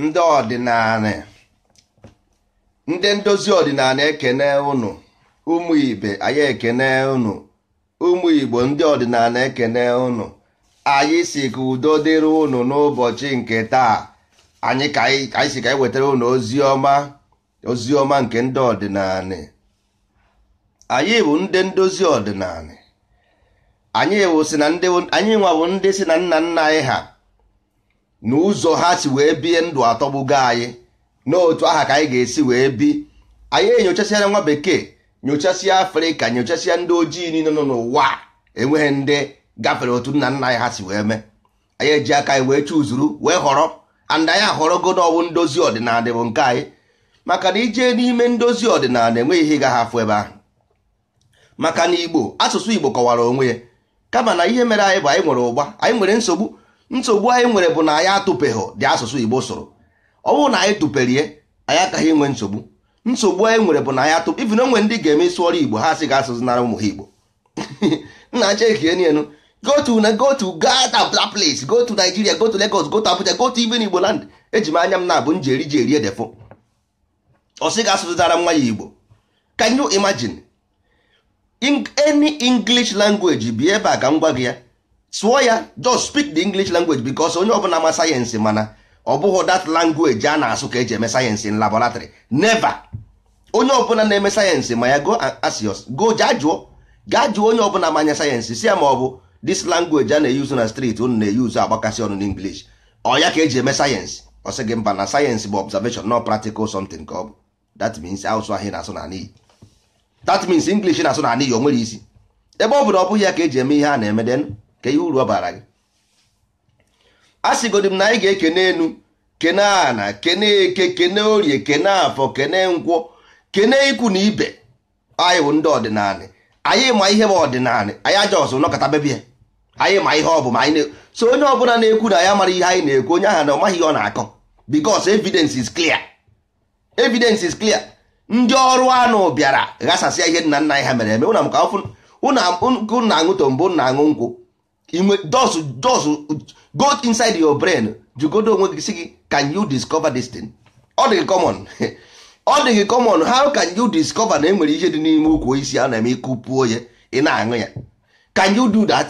ndị ọdịnanị ndị ndozi ọdịnanị ekene unu ụmụ ibe anyị ekene unu ụmụ igbo ndị ọdịnanị ekene unu anyị sị ka udo dịrị unu n'ụbọchị nke taa anyị anyị sị ka anyị wetara unu ozi ọma ozi ọma nke ndị ọdịnanị anyị bụ ndị ndozi ọdịnanị anyị nwa bụ ndị sị na nna nna anyị ha na ụzọ ha si wee bie ndụ atọgbugo anyị na otu aha ka anyị ga-esi wee bi anyị enyochasịana nwa bekee nyochasịa afrịka nyochasịa ndị ojii niile nọ n'ụwa enweghị ndị gafere otu nna nna anyị ha si wee mee anyị eji aka anyị wee chuzuru wee họrọ and anyị ahọrọgo na ọ wụ ndozi ọdịnanị bụ nke anyị maka na i jee n'ime ndozi ọdịnanị enweghị ihe ị gaghị afụ ebe ahụ maka na igbo asụsụ igbo kọwara onwe ya kama na ihe mere anyị bụ anyị nwere ụgba anyị nwere nsogbu nsogbu anyị nwere bụ na anyị atụpeghị dị asụsụ igbo sụrụ ọ bụrụ na anyị tụperie anyị akaghị inwe nsogbu nsogbu anyị nwere bụ na anyị atụ even o nwere ndị ga-eme ị sụọrọ igbo ha sị gị asụzịnara ụmụ ha igbo nna cheki enu enu go to na go to gaa to that place go to Nigeria go to Lagos go to Abuja go to even Igbo land eji m anya m na-abụ m ji eri ji eri edefo ọ sị gị asụzịnara nwa ya Igbo can you imagine in any English language bi ebe a ka m gwa gị ya sụọ ya just speak the english language because onye ọbụla ma sayensị mana ọ bụghị that language a na-asụ ka eji eme sayensị in laboratory never onye ọbụla na-eme sayensị ma ya go ask your go jaa jụọ gaa jụọ onye ọbụla ma anya sayensị sị ya ma ọ bụ this language a na-eyuzu na street unu na-eyuzu agbakasị ọnụ n'english ọ ya ka eji eme sayensị ọ sị gị mba na sayensị bụ observation na practical something ka ọ bụ that means asụsụ ahụ na-asụ na n'iyi that means English na-asụ na n'iyi o nwerọ isi ebe ọ bụ na ọ bụghị ya ka eji eme ihe a na-eme then kee uru ọ bara gị a sịgodi m na anyị ga-ekene enu kene ana kene eke kene orie kene afọ kene nkwọ kene ikwu na ibe anyị bụ ndị ọdịnanị anyị ma ihe bụ ọdịnanị anyị aja ọsụ nọkọta bebie anyị ma ihe ọ bụ ma anyị na-asị onye ọbụla na-ekwu na ya mara ihe anyị na-ekwu onye ahụ na ọ maghị ihe ọ na-akọ because evidence is clear evidence is clear ndị ọrụ anụ bịara ghasasịa ihe nna nna anyị ha mere eme ụna m ka ọfụ unu na-aṅụ tombo na-aṅụ nkwụ enu just just go inside your brain jụgodo onwe gị sị gị can you discover this thing ọ dị common ọ dị gị common how can you discover na enwere ihe dị n'ime ukwu osisi a na-eme ị kụpuo ya ị na-aṅụ ya can you do that?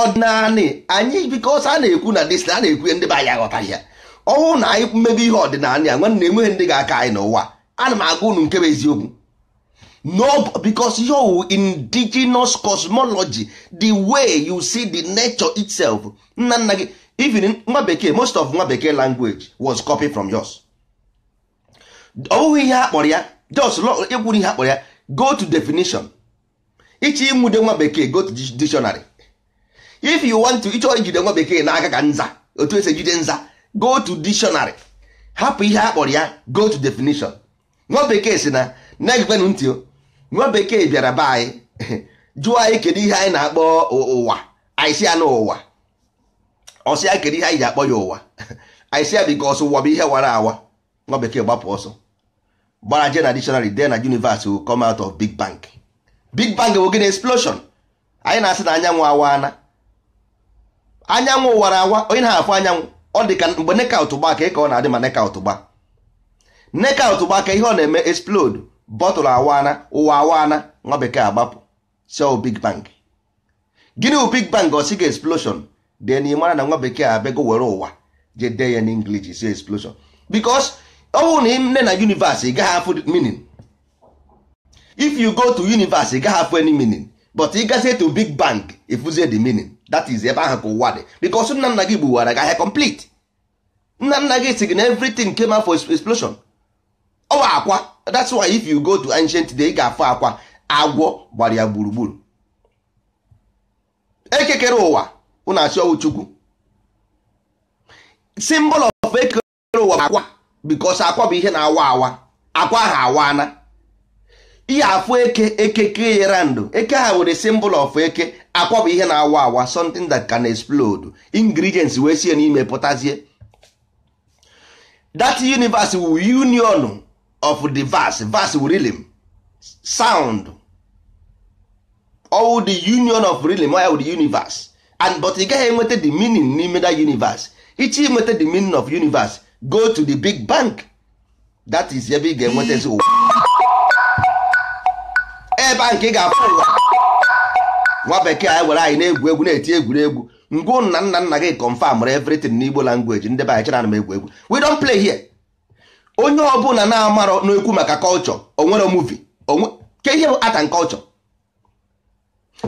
ọdịnanị anyị because a na-ekwu na this a na-ekwu ndị be anyị aghọtaghị ya ọ wụrụ na anyị mebe ihe ọdịnala ya nwanne enweghị ndị ga-aka anyị n'ụwa ana m agwa unu nke bụ eziokwu no because your indigenous cosmology the way you see the nature itself nna nna gị even nwa bekee most of nwa bekee language was copied from yours ọ bụghị ihe a kpọrọ ya just ịkwụrụ ihe a kpọrọ ya go to definition ịchọ ịnwude nwa bekee go to dictionary if you want to ịchọ ijide nwa bekee n'aka ka nza otu esi ejide nza go to dictionary hapụ ihe a kpọrọ ya go to definition nwa bekee si na na-egekwenụ ntị o nwa bekee bịara be anyị jụọ anyị kedu ihe anyị na-akpọ ụwa anyị si ya na ụwa ọ sị ya kedu ihe anyị ji akpọ ya ụwa anyị si ya because ụwa bụ ihe wara awa nwa bekee gbapụ ọsọ gbara je na dictionary dee na universe will come out of big bang big bang bụ gịnị explosion anyị na-asị na anyanwụ awaana anyanwụ wara awa onye na-afụ anyanwụ ọ dị ka mgbe knockout gba ka ị ka ọ na-adị ma knockout gbaa knockout gbaa kee ihe ọ na-eme explode bottle awaana ụwa awaana nwa bekee agbapụ sị ọ wụ big bang gịnị wụ big bang ọ sị gị explosion then ị mara na nwa bekee abịago were ụwa je dee ya n'English si explosion because ọ bụrụ na ị nee na universe ị gaghị afụ meaning if you go to universe ị gaghị afụ any meaning but ị gazie to big bang ị fụzie the meaning that is ebe ahụ ka ụwa dị because nna nna gị gbuwara gị ahịa complete nna nna gị si gị na everything came out for explosion ọ wụ akwa that's why if you go to ancient day ị ga-afụ akwa agwọ gbara ya gburugburu eke kere ụwa unu asị ọ wụ chukwu symbol of eke kere ụwa bụ akwa because akwa bụ ihe na-awa awa akwa ahụ awana ihe afụ eke eke kee ya round eke ahụ wụrụ symbol of eke akwa bụ ihe na-awa awa something that can explode ingredients wee sie n'ime pụtazie that universe wu union of the verse verse wu rhythm sound all the union of rhythm all the universe and but ị gaghị enweta the meaning n'ime that universe ịchọ inweta the meaning of universe go to the big bang that is ebe ị ga-enwetazi ụwa ebe ahụ ka ị ga-afụ ụwa nwa bekee anyị were anyị na-egwu egwu na-eti egwuregwu ngwa nna nna nna gị confirmrụ everything n'igbo language ndị be anyị chere na m egwu egwu we don't play here onye ọbụla na-amarọ na-ekwu maka culture o nwere movie o nwe kee ihe bụ art and culture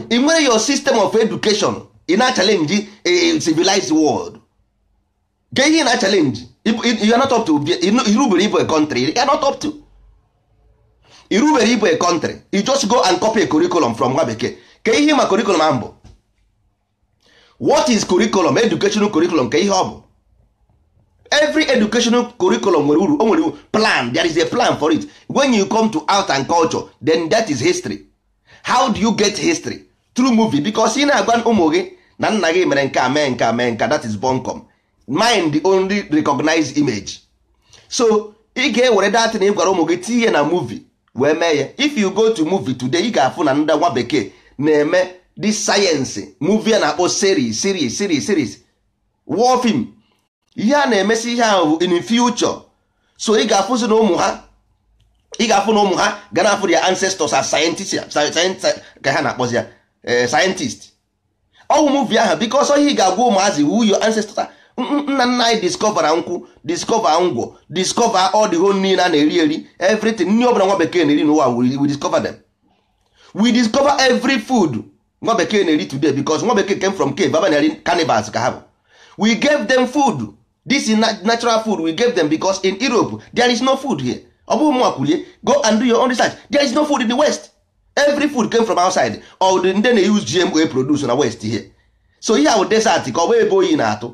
ị nwere your system of education ị na-achallenge a civilized world ke ihe na challenge you are not up to irubere ịbụ a country you are not up to irubere ịbụ a country you just go and copy a curriculum from nwa bekee ke ihe ma curriculum ahụ bụ what is curriculum educational curriculum ke ihe ọ bụ every educational curriculum nwere uru o nwere plan there is a plan for it when you come to art and culture then that is history how do you get history through movie because ị na-agwa ụmụ gị na nna gị mere nke a mee nke a mee nke that is bunkum mind only recognize image so ị ga-ewere that thing ị gwara ụmụ gị tinye na movie wee mee ya if you go to movie today ị ga-afụ na ndị nwa bekee na-eme this science movie a na-akpọ series series series series war film ihe a na-emesi ihe ahụ bụ in future so ị ga-afụzi na ụmụ ha ị ga-afụ na ụmụ ha ga na-afụ their ancestors as scientist ka ha na-akpọzi ya eh, scientist ọwụ movie ahụ because ihe ị ga-agwa ụmụazị wụ your ancestors nna nna anyị discovera nkwụ discover ngwọ discover all the whole niile a na-eri eri everything nri ọbụla nwa bekee na-eri n'ụwa we discover them we discover every food nwa bekee na-eri today because nwa bekee came from cave abanyeri cannibals ka ha bụ we gave them food this is natural food we gave them because in Europe there is no food here ọ bụghị mụ kwulu ya go and do your own research there is no food in the west every food came from outside or ndị na-use GMO produce na west here so here bụ desert ka ọ bụ ebe oyi na-atụ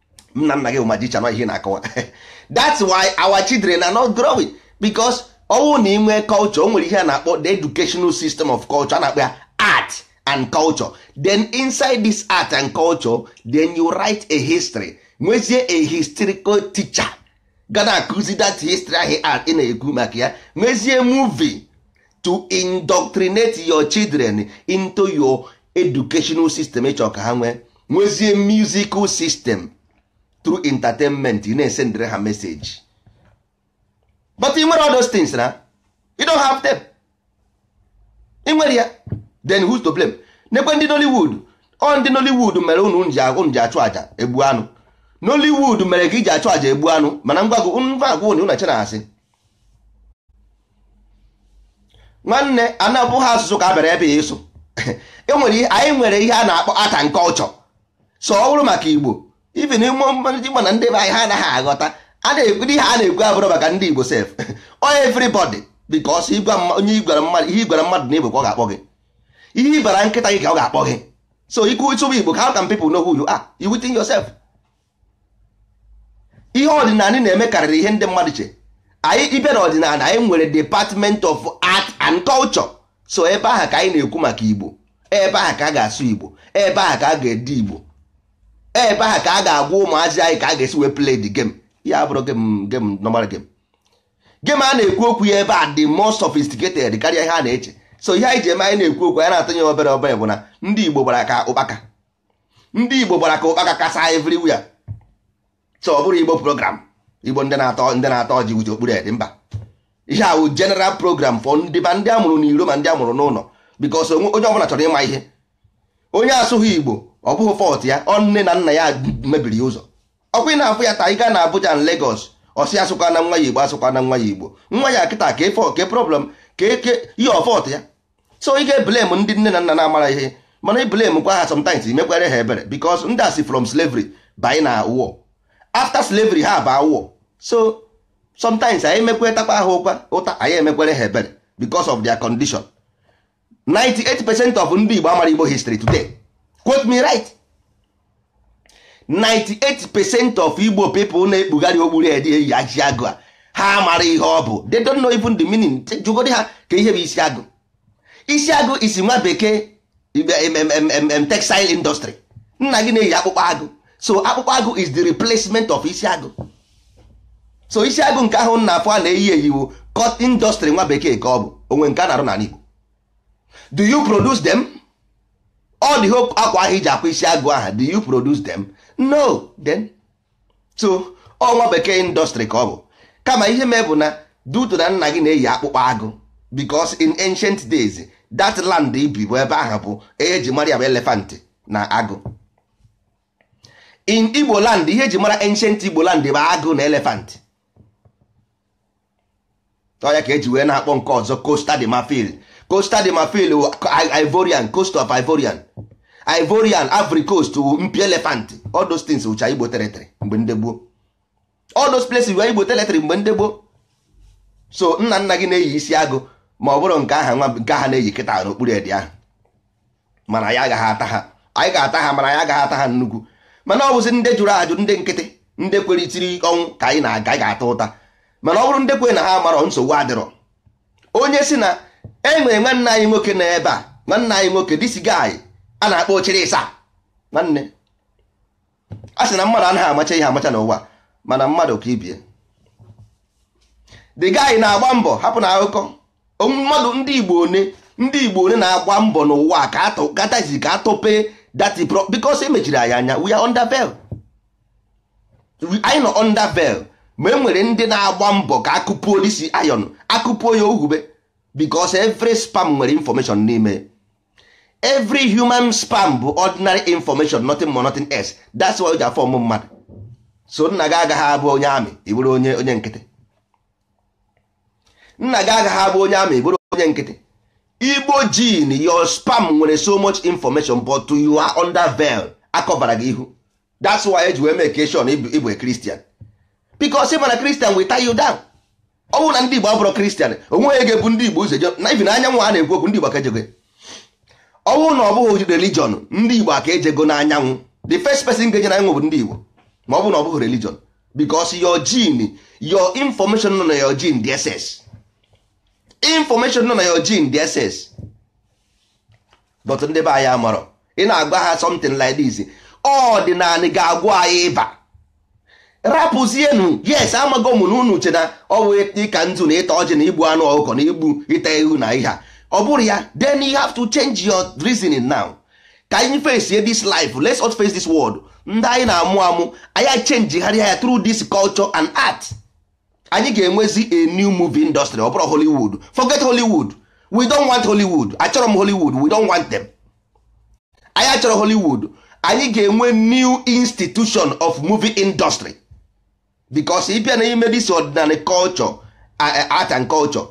nna nna gị bụ magician ọ ihe na-akọwa that's why our children are not growing because ọwụ na inwe culture o nwere ihe a na-akpọ the educational system of culture a na-akpọ ya art and culture then inside this art and culture then you write a history nwezie a historical teacher ga na-akụzi that history ahụ art ị na-ekwu maka ya nwezie movie to indoctrinate your children into your educational system ịchọ ka ha nwee nwezie musical system through entertainment ị na-esendere ha message but ị nwere all those things na you don't have them ị nwere ya then who's to blame nekwe ndị Nollywood ọ ndị Nollywood mere unu unu ji ahụ unu ji achụ aja egbu anụ Nollywood mere ka iji achụ aja egbu anụ mana ngwa gụ ngwa agwa unu na-eche na asị nwanne anabụ ha asụsụ ka a bịara ebe a ịsụ anyị nwere ihe a na-akpọ art and culture so ọ bụrụ maka igbo even ịma na ndị be anyị ha anaghị aghọta a na-ekwu ihe a na-ekwu abụrụ maka ndị igbo sef ọ everybody because onye igwara mmadụ ihe igwara mmadụ na igbo ka ọ ga-akpọ gị ihe ịbara nkịta gị ka ọ ga-akpọ gị so ikwute ịbụ igbo how can people know who you are you within yourself ihe ọdịnala na-eme karịrị ihe ndị mmadụ che anyị ịbịa na ọdịnala anyị nwere department of art and culture so ebe ahụ ka anyị na-ekwu maka igbo ebe ahụ ka a ga-asụ igbo ebe ahụ ka a ga-ede igbo ebe ahụ ka a ga-agwa ụmụazị anyị ka a ga-esi wee play the game ya abụrọ game game normal game game a na-ekwu okwu ya ebe a dị more sophisticated karịa ihe a na-eche so ihe anyị ji eme anyị na-ekwu okwu anyị na-atụnye obere obere bụ na ndị igbo gbara ka ụkpaka ndị igbo gbara ka ụkpaka kasa everywhere so ọ bụrọ igbo program igbo ndị na-atọ ndị na-ata ọjị kpuche okpu red mba ihe a wụ general program for ndị ma ndị amụrụ n'iro ma ndị amụrụ n'ụlọ because onye ọbụla chọrọ ịma ihe onye asụghị igbo ọ bụghị fault ya ọ nne na nna ya mebiri ya ụzọ ọkwa ị na-afụ ya taa ị gaa na Abuja na Lagos ọ sị asụkwana nwa ya igbo asụkwana nwa ya igbo nwa ya kịta ka efe ke problem ka eke ihe ọ fault ya so ị ga-eblame ndị nne na nna na amarọ ihe mana i blamekwa ha sometimes i mekwere ha ebere because ndị a si from slavery banye na war after slavery ha baa war so sometimes anyị emekwa takwa ha ụkwa ụta anyị emekwere ha ebere because of their condition 98 percent of ndị Igbo amarọ Igbo history today quote me right 98 percent of igbo people na-ekpugharị okpu red eyi isi agụ a ha marọ ihe ọ bụ they don't know even the meaning jụgodi ha kee ihe bụ isi agụ isi agụ is nwa bekee textile industry nna gị na-eyi akpụkpọ agụ so akpụkpọ agụ is the replacement of isi agụ so isi agụ nke ahụ unu na-afụ a na-eyi eyi wụ cotton industry nwa bekee ka ọ bụ o nwere nke a na-arụ n'ala Igbo do you produce them? all the whole akwa ahụ e ji akwa isi agụ aha do you produce them no then so ọ nwa bekee industry ka ọ bụ kama ihe mee bụ na due to na nna gị na-eyi akpụkpọ agụ because in ancient days that land i bi bụ ebe ahụ bụ ihe eji mara ya bụ elephant na agụ in igbo land ihe eji mara ancient igbo land bụ agụ na elephant ọ ya ka eji wee na-akpọ nke ọzọ Costa de Marfil Costa de Marfil wụ Ivorian Coast of Ivorian Ivorian Ivory Coast wụ mpi elephant all those things wụcha Igbo territory mgbe ndị gboo all those places were Igbo territory mgbe ndị gboo so nna nna gị na-eyi isi agụ ma ọ bụrọ nke a ha nwa nke a ha na-eyi kịta na okpu red ahụ mana anyị agaghị ata ha anyị ga-ata ha mana anyị agaghị ata ha nnukwu mana ọ bụzi ndị jụrụ ajụ ndị nkịtị ndị kwere siri ọnwụ ka anyị na-aga ga-ata ụta mana ọ bụrụ ndị kwere na ha marọ nsogbu adịrọ onye si na e nwere nwanne anyị nwoke na ebe a nwanne anyị nwoke this guy a na-akpọ ochere ịsa nwanne a sị na mmadụ anaghị amacha ihe amacha n'ụwa mana mmadụ ka ibie the guy na-agba mbọ hapụ na akụkọ mmadụ ndị Igbo one ndị Igbo one na-agba mbọ n'ụwa ka atụ gatazi ka atọpe that pro because e mechiri anyị anya we are under veil anyị nọ under veil ma e nwere ndị na-agba mbọ ka a kụpuo this iron a kụpuo ya ohube because every sperm nwere information n'ime every human sperm bụ ordinary information nothing more nothing else that's why o ji aform mmadụ so nna gị agaghị abụ onye army ị bụrụ onye onye nkịtị nna gị agaghị abụ onye army ị bụrụ onye nkịtị igbo gene your sperm nwere so much information but you are under veil akọbara gị ihu that's why e ji wee make sure na ị bụ a Christian because ị ma na Christian will tie you down ọ bụrụ na ndị Igbo abụrọ Christian o nweghị ga-ebu ndị Igbo ụzọ na ibi na anyanwụ a na-ekwu okwu ndị Igbo ka ejego ọ bụrụ na ọ bụghị religion ndị Igbo aka ejego n'anyanwụ the first person ga-eje na anyanwụ bụ ndị Igbo ma ọ bụrụ na ọ bụghị religion because your gene your information nọ na your gene dị excess information nọ na your gene dị excess but ndị be anyị amarọ ị na-agwa ha something like this ọdịnanị ga-agwọ anyị ịba rapụzienu yes amago m na unu che na ọ bụ ịka nzu na ịta ọjị na igbu anụ ọkụkọ na igbu ịta ewu na ihe a ọ bụrụ ya then you have to change your reasoning now ka anyị face this life let's now face this world ndị anyị na-amụ amụ anyị changeharịa ya through this culture and art anyị ga-enwezi a new movie industry ọ bụrọ Hollywood forget Hollywood we don't want Hollywood achọrọ m Hollywood we don't want them anyị achọrọ Hollywood anyị ga-enwe new institution of movie industry because ị bịa n'ime this ọdịnanị culture art and culture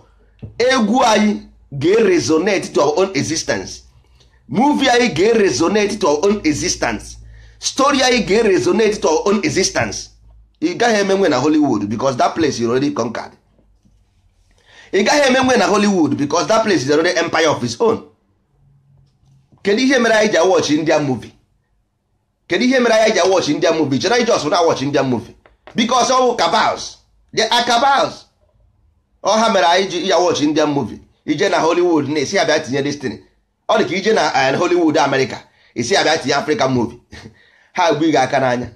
egwu anyị ga-resonate to our own existence movie anyị ga-resonate to our own existence story anyị ga-resonate to our own existence ị gaghị emenwu ya na Hollywood because that place is already conquered ị gaghị emenwu ya na Hollywood because that place is already empire of its own kedu ihe mere anyị ji awatch India movie kedu ihe mere anyị ji awatch Indian movie chere anyị just na-awatch Indian movie because ọ bụ cabals they are cabals ọ ha mere anyị ji awatch Indian movie i je na Hollywood na-asị ha bịa tinye this thing ọ dị ka i je na eh, Hollywood America sị ha bịa tinye African movie ha gbu gị aka n'anya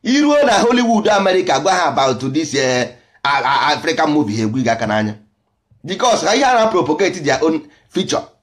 i ruo na Hollywood America gwa ha about this eh, African movie ha egbu gị aka n'anya because ha ihe ha na-propagate their own future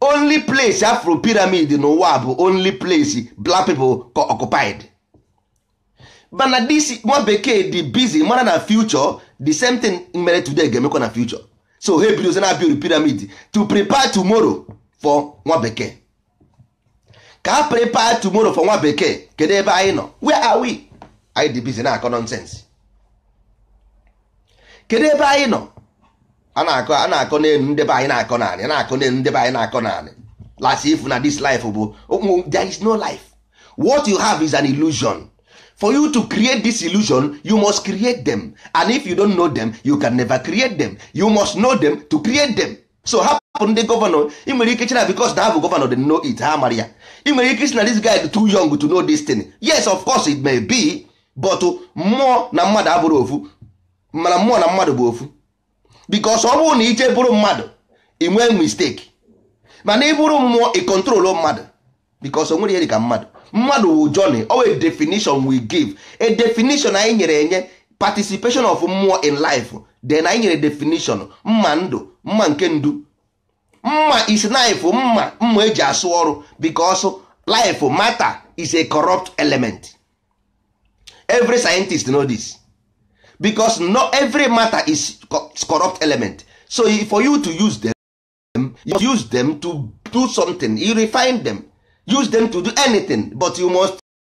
only place a fụrụ pyramid n'ụwa bụ only place black people occupied but na this nwa bekee dị busy mara na future the same thing mere today ga-emekwa na future so ha ebidozi na build pyramid to prepare tomorrow for nwa bekee ka ha prepare tomorrow for nwa bekee kedu ebe anyị nọ where are we anyị dị busy na-akọ nonsense kedu ebe anyị nọ a na-akọ a na-akọ n'elu ndị be anyị na-akọ n'anị a na-akọ n'elu ndị be anyị na-akọ n'anị last ife na this life bụ there is no life what you have is an illusion for you to create this illusion you must create them and if you don't know them you can never create them you must know them to create them so hapụ ndị gọvanọ ị nwere ike chee na because na ha bụ gọvanọ they know it ha mara ya ị nwere ike sị na this guy too young to know this thing yes of course it may be but mmụọ na mmadụ abụrọ ofu mana mmụọ na mmadụ bụ ofu because ọ bụrụ na ị je bụrụ mmadụ ị nwee mistake mana ị bụrụ mmụọ ị control mmadụ because o nwerọ ihe dị ka mmadụ mmadụ wụ journey or a definition we give a definition anyị nyere enye participation of mmụọ in life then anyị nyere definition mma ndụ mma nke ndụ mma is knife mma mma eji asụ ọrụ because life matter is a corrupt element every scientist know this because no every matter is corrupt element so for you to use them you use them to do something you refine them use them to do anything but you must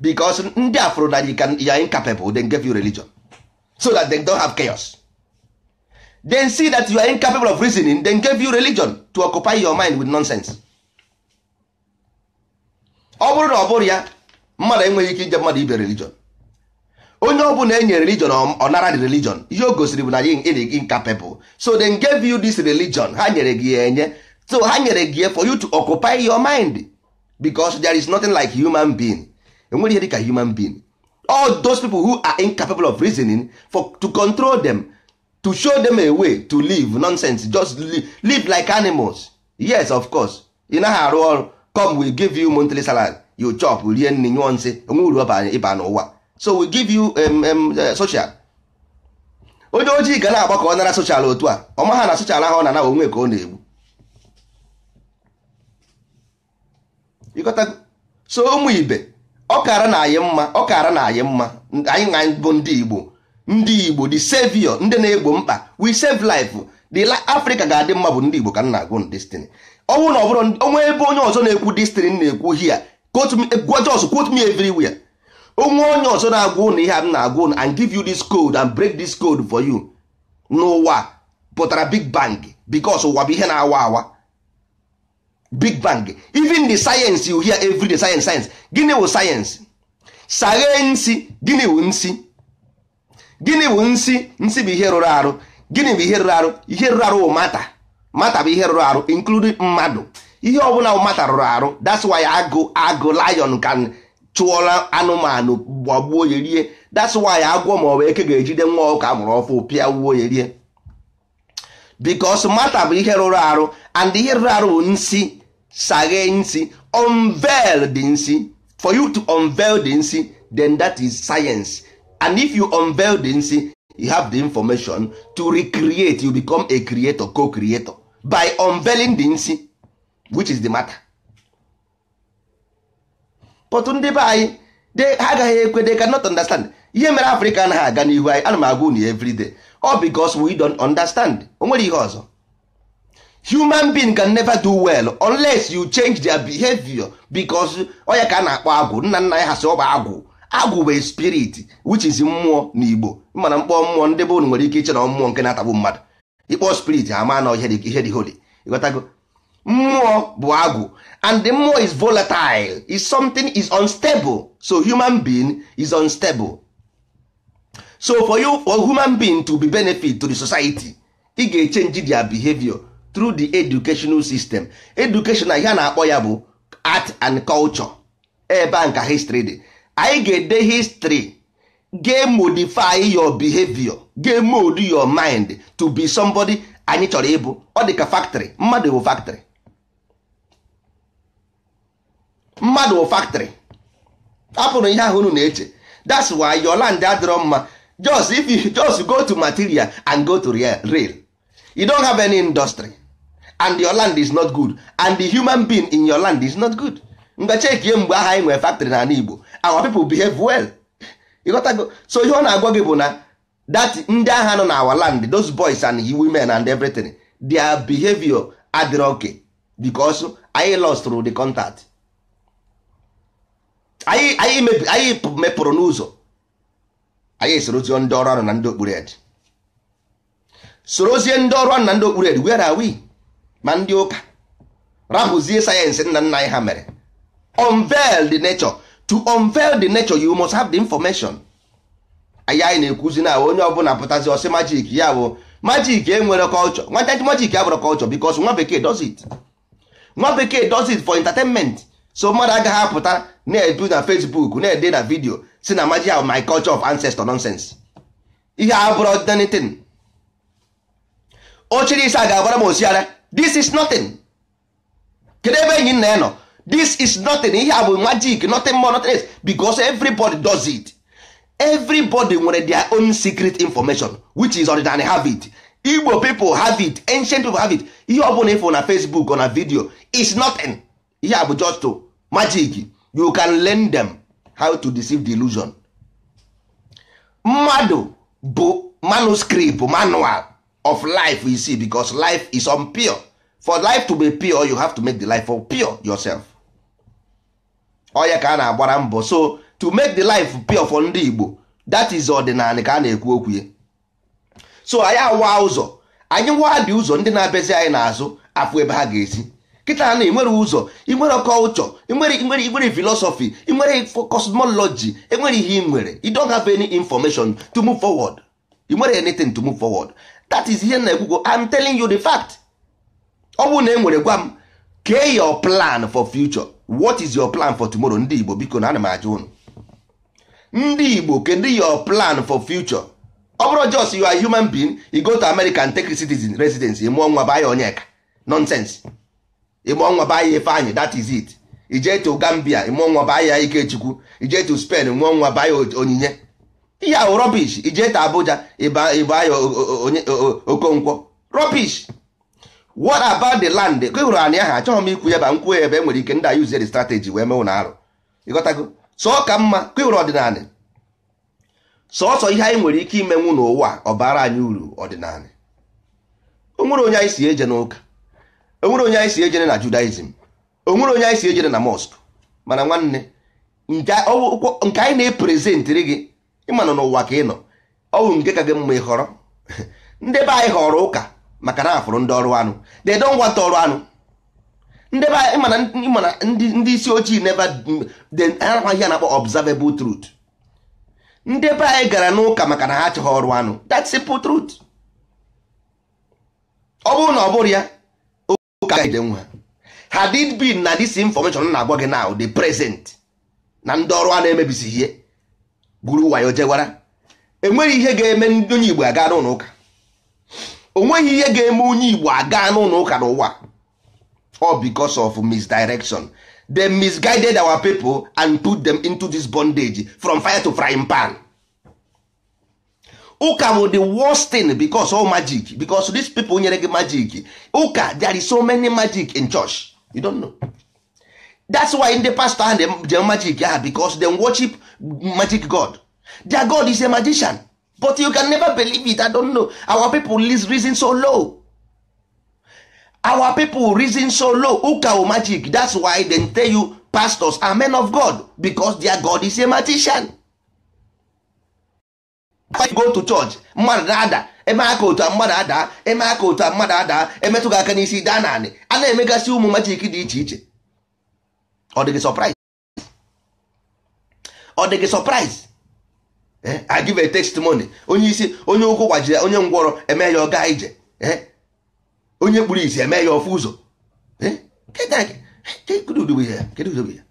because ndị a fụrụ na you can you are incapable then give you religion so that they don't have chaos then see that you are incapable of reasoning then give you religion to occupy your mind with nonsense ọ bụrụ na ọ bụrọ ya mmadụ enweghị ike inye mmadụ ibe religion onye ọ bụla e nye religion ọ nara the religion ihe o gosiri bụ na anyị ị dị incapable so they gave you this religion ha nyere gị ya enye so ha nyere gị ya for you to occupy your mind because there is nothing like human being e nwerọ ihe dịka human being all those people who are incapable of reasoning for to control them to show them a way to live nonsense just live, live like animals yes of course ị naghị arụ ọrụ come we give you monthly salary you chop rie nri nyụọ nsị o nwe uru ị ba n'ụwa so we give you um, um, uh, social onye ojii ga na-agba ka ọ nara social otu a ọ maha na social ahụ na na onwe ka ọ na-egbu so ụmụ ibe ọ kara na anyị mma ọ kara na anyị mma anyị na bụ ndị Igbo ndị Igbo the savior ndị na-egbo mkpa we save life the Africa ga-adị mma bụ ndị Igbo ka m na-agụ destiny ọnwụ na ọ bụrụ o nwe ebe onye ọzọ na-ekwu this thing na-ekwu ihe a gwa just quote me everywhere o nwe onye ọzọ na-agwa ụnụ ihe a m na-agwa ụnụ and give you this code and break this code for you na ụwa pụtara big bang because ụwa bụ ihe na-awa awa big bang even the science you hear every day science science gịnị wụ science saghe nsi gịnị wụ nsi gịnị wụ nsi nsi bụ ihe rụrụ arụ gịnị bụ ihe rụrụ arụ ihe rụrụ arụ wụ matter matter bụ ihe rụrụ arụ including mmadụ ihe ọbụla wụ matter rụrụ arụ that's why agụ agụ lion can chụọla anụmanụ gbagbuo ya rie that's why agwọ ma ọ bụ eke ga-ejide nwa ọkụkọ a mụrụ ọfụụ pịagbuo ya rie because matter bụ ihe rụrụ arụ and ihe rụrụ arụ bụ nsi saghe nsi unveil the nsi for you to unveil the nsi then that is science and if you unveil the nsi you have the information to recreate you become a creator co-creator by unveiling the nsi which is the matter but ndị be anyị ha agaghị ekwe they cannot understand ihe mere afrịka anaghị aga n'ihu anyị ana m agwa unu every day all because we don't understand o nwere ihe ọzọ human being can never do well unless you change their behavior because ọ ya ka a na-akpọ agwụ nna nna ya ha sị ọ bụ agwụ agwụ bụ spirit which is mmụọ na Igbo mana m kpọọ mmụọ ndị be unu nwere ike iche na mmụọ nke na-atagbu mmadụ ị kpọọ spirit a ma na ihe dị holy ịghọtago mmụọ bụ agwụ and the mmụọ is volatile is something is unstable so human being is unstable so for human being to be benefit to the society ị ga-echenji their behavior through the educational system education ihe a na-akpọ ya bụ art and culture ebe ahụ ka history dị anyị ga-ede history ga modify your behavior ga mold your mind to be somebody anyị chọrọ ịbụ ọ dị ka factory mmadụ bụ factory mmadụ bụ factory hapụrụ ihe ahụ unu na-eche that's why your land adịrọ mma just if you just go to material and go to real you don't have any industry and your land is not good and the human being in your land is not good ngwa chekie mgbe aha anyị nwere factory n'ala Igbo our people behave well ịghọtago so ihe ọ na-agwa gị bụ na that ndị aha nọ na our land those boys and women and everything their behavior adịrọ okay because anyị lost through the contact anyị anyị mebi anyị mepụrụ n'ụzọ anyị esorozie ndị ọrụ ọrụ na ndị okpuru ed sorozie ndị ọrụ na ndị okpuru eri where are we ma ndị ụka rapụzie science nna nna anyị ha mere unveil the nature to unveil the nature you must have the information anyị anyị na-ekwuzi na onye ọbụla pụtazi ọ sị magic ya bụ magic enwerọ culture nwata magic abụrọ culture because nwa bekee does it nwa bekee does it for entertainment so mmadụ agaghị apụta na-edu na Facebook na-ede na video sị na magic a wụ my culture of ancestor nonsense ihe a bụrụ anything o chiri isi a ga-agbara m osiara this is nothing kedu ebe enyi nna ya nọ this is nothing ihe a bụ magic nothing more nothing else because everybody does it everybody nwere their own secret information which is ọdịnanị have it igbo people have it ancient people have it ihe ọ bụla ị fụ na facebook or na video is nothing ihe a bụ just magic you can learn them how to deceive the illusion mmadụ bụ manuscript manual of life you see because life is unpure for life to be pure you have to make the life pure yourself ọ ya ka a na-agbara mbọ so to make the life pure for ndị Igbo that is ọdịnala ka a na-ekwu okwu ya so anyị awa ụzọ anyị waa dị ụzọ ndị na-abịazi anyị n'azụ afụ ebe ha ga-esi kịta na inwere ụzọ inwere culture inwere philosophy inwere cosmology enwere ihe ị nwere you don't have any information to move forward inwere anything to move forward that is ihe na-ekwugo I'm telling you the fact ọ bụrụ na e nwere gwa m kee your plan for future what is your plan for tomorrow ndị Igbo biko na ana m ajụ ụnụ ndị Igbo kedu your plan for future ọ bụrụ just you are human being you go to America and take citizen residence ịmụọ nwa baa ya onyeka nonsense ịmụọ nwa baa ya Ifeanyị that is it ije to Gambia ịmụọ nwa baa ya Ikechukwu ije to Spain mụọ nwa baa ya Onyinye ihe ahụ rubbish ije to Abuja ịba ya Okonkwo rubbish what about the land ka ị hụrụ anị ahụ achọghị m ikwu ya ba nkwuo ya ebe e nwere ike ndị a use the strategy wee mewu na arụ ịghọtago so ọ ka mma ka ị hụrụ ọdịnala sọsọ ihe anyị nwere ike imenwu n'ụwa ọ bara anyị uru ọdịnala onwere onye anyị sị ejene ụka onwere onye anyị sị ejene na judaism onwere onye anyị sị ejene na mosque mana nwanne nke anyị na-epresentịrị gị ị manụ n'ụwa ka ị nọ ọ bụ nke ka gị mma ịhọrọ ndị be anyị họrọ ụka maka na afụrụ ndị ọrụ anụ they don't want ọrụ anụ ndị be anyị mana ịma na ndị ndị isi ojii never they- ha nakwa ihe a na-akpọ observable truth ndị be anyị gara n'ụka maka na ha achọghị ọrụ anụ that's simple truth ọ bụrụ na ọ bụrụ ya ụka ide nwa had it been na this information na-agwa gị now the present na ndị ọrụ anụ emebisi ihe gwuru wayo jewara enweghị ihe ga-eme ndị onye Igbo aga n'ụlọ ụka onweghị ihe ga-eme onye Igbo aga n'ụlọ ụka n'ụwa all because of misdirection they misguided our people and put them into this bondage from fire to frying pan ụka bụ the worst thing because all magic because these people nyere gị magic ụka there is so many magic in church you don't know that's why ndị pastor ha ji magic ha because they worship magic god their god is a magician but you can never believe it i don't know our people reason so low our people reason so low ụka o magic that's why they tell you pastors are men of god because their god is a magician go to church mmadụ na-ada eme aka otu a mmadụ ada eme aka otu a mmadụ ada emetụ gị aka n'isi daa n'anị a na-emegasị ụmụ magic dị iche iche ọ dị gị surprise ọ dị gị surprise eh, I give a testimony onye isi onye ụkwụ gbajiri onye ngwọrọ eme ya ọ gaa ije eh, onye kpuru isi eme ya ọ fụ ụzọ eh, kedu ụdị bụ ya kedu ụdị bụ ya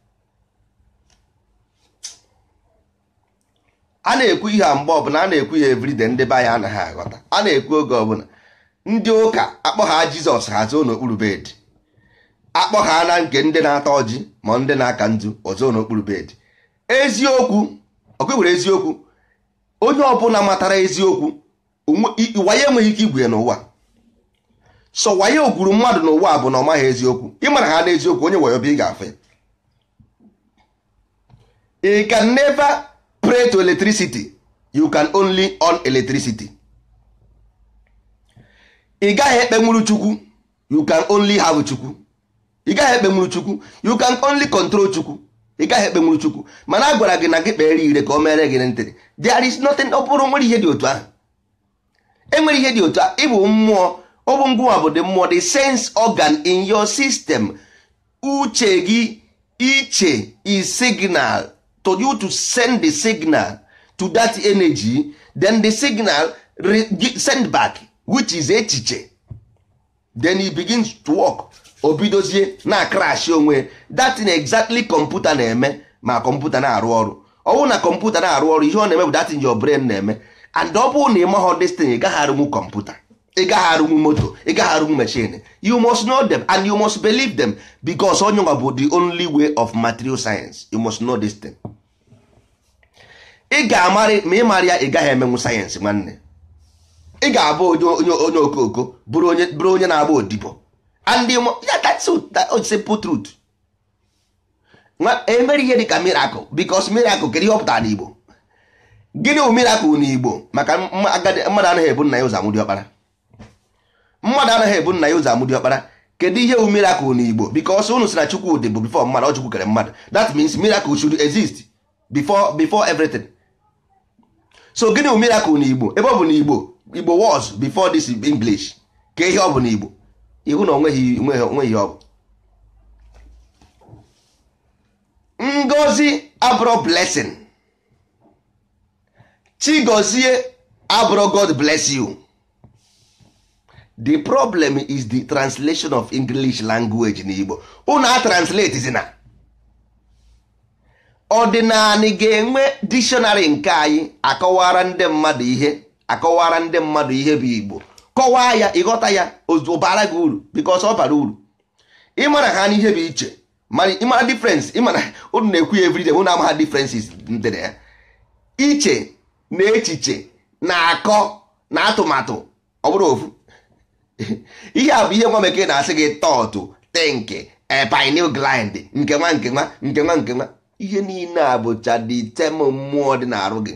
a na-ekwu ihe a mgbe ọbụla a na-ekwu ihe everyday ndị be anyị anaghị aghọta a na-ekwu oge ọbụla ndị ụka akpọ ha jizọs ha zoo n'okpuru bed akpọ ha na nke ndị na-ata ọjị ma ndị na-aka nzu o zoo n'okpuru bed eziokwu ọkụ were eziokwu onye ọbụla matara eziokwu wayo enweghị ike igwu ya n'ụwa so wayo gwuru mmadụ n'ụwa bụ na ọ maghị eziokwu ị marahaana eziokwu onye wayo bịa ị ga-afụ ya you can never pray to electricity you can only on electricity ị gaghị ekpenwuru chukwu you can only have chukwu ị gaghị ekpenwuru chukwu you can only control chukwu ị gaghị ekpenwuru chukwu mana a gwara gị na gị kpere ire ka o mere gị ntịrị there is nothing ọ bụrụ nwere ihe dị otu ahụ enwere ihe dị otu a ị bụ mmụọ ọ bụ ngụwa bụ the mmụọ the sense organ in your system uche gị iche is signal to you to send the signal to that energy then the signal send back which is echiche then it begins to work o bidozie na crash onwe that thing exactly kọmputa na-eme ma kọmputa na-arụ ọrụ ọ wụ na kọmputa na-arụ ọrụ ihe ọ na-eme bụ that thing your brain na-eme and ọ bụrụ na ị maghọ this thing ị gaghị arụnwu kọmputa ị gaghị arụnwu moto ị gaghị arụnwu machine you must know them and you must believe them because ọ yanwa bụ the only way of material science you must know this thing. ị ga-amarị ma ị marọ ya ị gaghị emenwu sayensị nwanne ị ga-abụ onye onye okooko bụrụ onye bụrụ onye na-agba odibo and ya that's simple truth e mere ihe dịka miracle because miracle kedu ihe ọ pụtara n'Igbo gịnị bụ miracle n'Igbo maka mmadụ anaghị ebu nna ya ụzọ amụ diọkpara mmadụ anaghị ebu nna ya ụzọ amụ diọkpara kedu ihe wu miracle na igbo because unu sị na chukwu dịbu before mmadụ ọ chukwu kere mmadụ that means miracle should exist before before everything so gịnị wu miracle na igbo ebe ọ bụ na igbo igbo was before this english kee ihe ọ bụ na igbo ị hụ na onweghị onweghị ọ bụ ngozi abụrụ blessing chigozie abụrọ god bless you the problem is the translation of english language na igbo unu a translate zina ọdịnanị ga-enwe dictionary nke anyị akọwara ndị mmadụ ihe akọwara ndị mmadụ ihe bụ igbo kọwaa ya ịghọta ya ọ baara gị uru because ọ bara uru ịmara ha n'ihe bụ iche mana ịmara difference ịmana unu na-ekwu ya everyday unu amaha differences dị na ya iche na echiche na akọ na atụmatụ ọ bụrọ ofu ihe a bụ ihe nwa bekee na-asị gị thought think pineal gland nke nwa nke nwa nke nwa nke nwa ihe niile a bụcha dị tem mmụọ dị n'arụ gị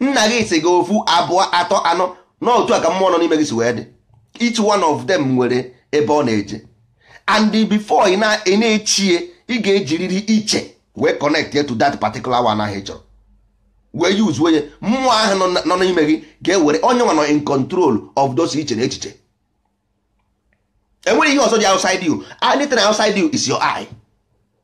nna gị si gị ofu abụọ atọ anọ na otu a ka mmụọ nọ n'ime gị si wee dị each one of them nwere ebe ọ na-eje and before ị na-echie ị ga-ejiriri iche wee connect to that particular one ahụ ị chọrọ wee use onye mmụọ ahụ nọ n'ime gị ga-ewere onye nwa nọ in control of those iche na echiche enwere ihe ọzọ dị outside you anything outside you is your eye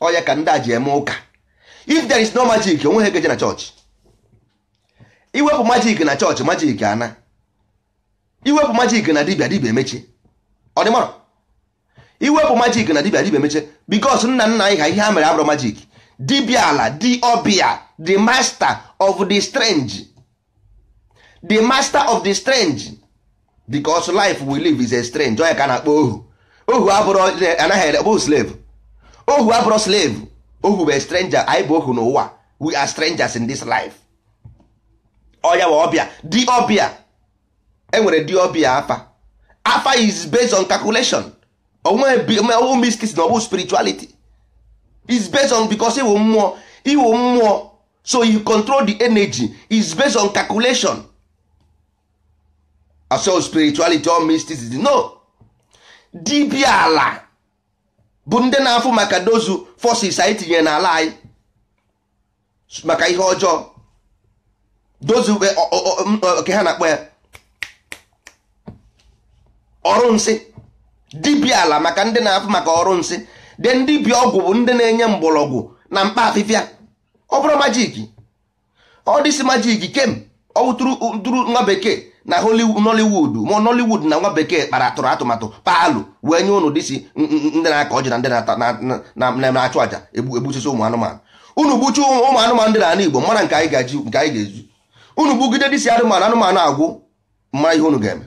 ọ ya ka ndị a ji eme ụka if there is no magic o nweghị ga-eje na church i wepụ magic na church magic anaa i wepụ magic na dibia dibia emechi ọ dị mara i wepụ magic na dibia dibia emechi because nna nna anyị ha ihe ha mere abụrọ magic dibia ala di ọbịa the master of the strange the master of the strange because life we live is a strange ọ ya ka a na-akpọ ohu ohu abụrọ anaghị abụghị slave ohu abụrọ slave ohu bụ stranger anyị bụ ohu n'ụwa we are strangers in this life ọ ya wụ ọbịa di ọbịa enwere di ọbịa afa afa is based on calculation onwewu mystics na ọ bụ spirituality is based on because iwu mmụọ iwu mmụọ so you control the energy is based on calculation so spirituality or mysticism no dibia ala bụ ndị na-afụ maka those forces anyị tinyere n'ala anyị maka ihe ọjọọ those eh, ọ- ọ- ọ- m- ọ- ka ha na-akpọ ya ọrụ nsị dibịa ala maka ndị na-afụ maka ọrụ nsị then dibịa ọgwụ bụ ndị na-enye mgbọrọgwụ na mkpa afịfịa ọ bụrọ magic ọ this magic kem ọ wụtụrụ nwa bekee na nollywood ma nollywood na nwa bekee kpara tụrụ atụmatụ paalụ wee nye unu these ndị na-agọ ọjị na ndị na-achụ aja egbusisi ụmụ anụmanụ unu gbuchaa ụmụ anụmanụ dị n'ala igbo mara nke anyị ga-ezu unu gbugide this anụmanụ anụmanụ agwụ m ma ihe unu ga-eme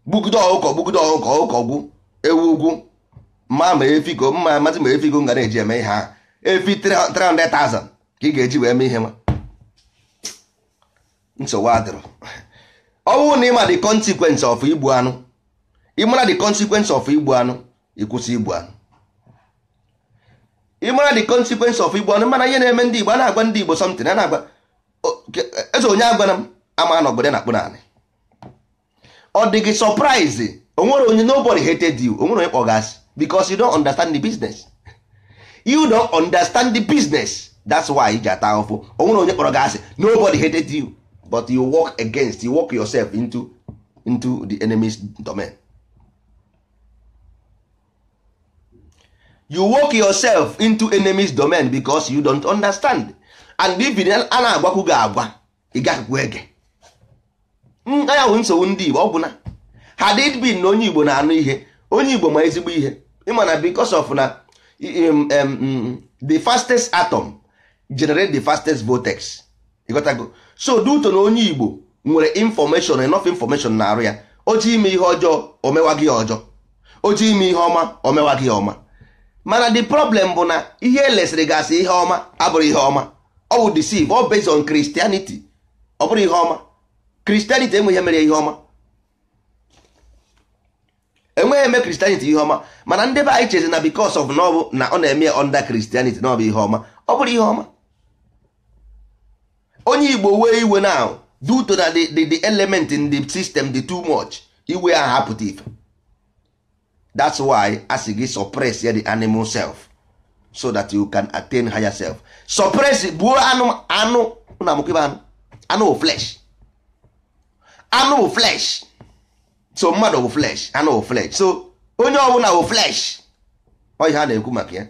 gbugide ọkụkọ gbugide ọkụkọ ọkụkọ gwụ ewu gwụ ma ma efi ka m mazi ma efi ka m ga na-eji eme ihe ahụ efi 300,000 ka ị ga-eji wee mee ihe nwa nsogbu adịrọ ọ bụrụ na ị ma the consequence of igbu anụ ị mara the consequence of igbu anụ ịkwụsị igbu anụ ị mara the consequence of igbu anụ mana ihe na-eme ndị Igbo a na-agwa ndị Igbo something a na-agwa eze onye agwara m ama na obodo na-akpụ naanị ọ dị gị surprise o nwerọ onye nobody hated you o nwerọ onye kpọ gị asị because you don't understand the business you don't understand the business that's why ị ji ata ahụfụ onwere onye kpọrọ gị asị nobody hated you but you work against you walk yourself into into the enemy's domain you walk yourself into enemy's domain because you don't understand and if a na-agwakwu gị agwa ị gaghịkwu ege ya bụ nsogbu ndị Igbo ọ bụ na had it been na onye Igbo na-anụ ihe onye Igbo ma ezigbo ihe ịma na because of na um, um, um, the fastest atom generate the fastest vortex ị ghọtago so due to na onye igbo nwere information enough information na arụ ya o ji ime ihe ọjọọ o mewa gị ọjọọ o ji ime ihe ọma o mewa gị ọma mana the problem bụ na ihe e lesịrị gị as ihe ọma abụrọ ihe ọma ọ bụ deceive ọ based on Christianity ọ bụrọ ihe ọma Christianity enweghị ihe mere ya ihe ọma enweghị ihe mere Christianity ihe ọma mana ndị be anyị chezi na because of na ọ bụ na ọ na-eme under Christianity na ọ bụ ihe ọma ọ bụrọ ihe ọma onye igbo wee iwe na due to na the, the, the element in the system dị too much iwe ahụ apụta ife that's why a sị gị suppress ya the animal self so that you can attain higher self suppress gbuo anụ anụ na amụkịba anụ anụ flesh anụ flesh so mmadụ bụ flesh anụ bụ flesh so onye ọbụla bụ flesh ọ ihe a na-ekwu maka ya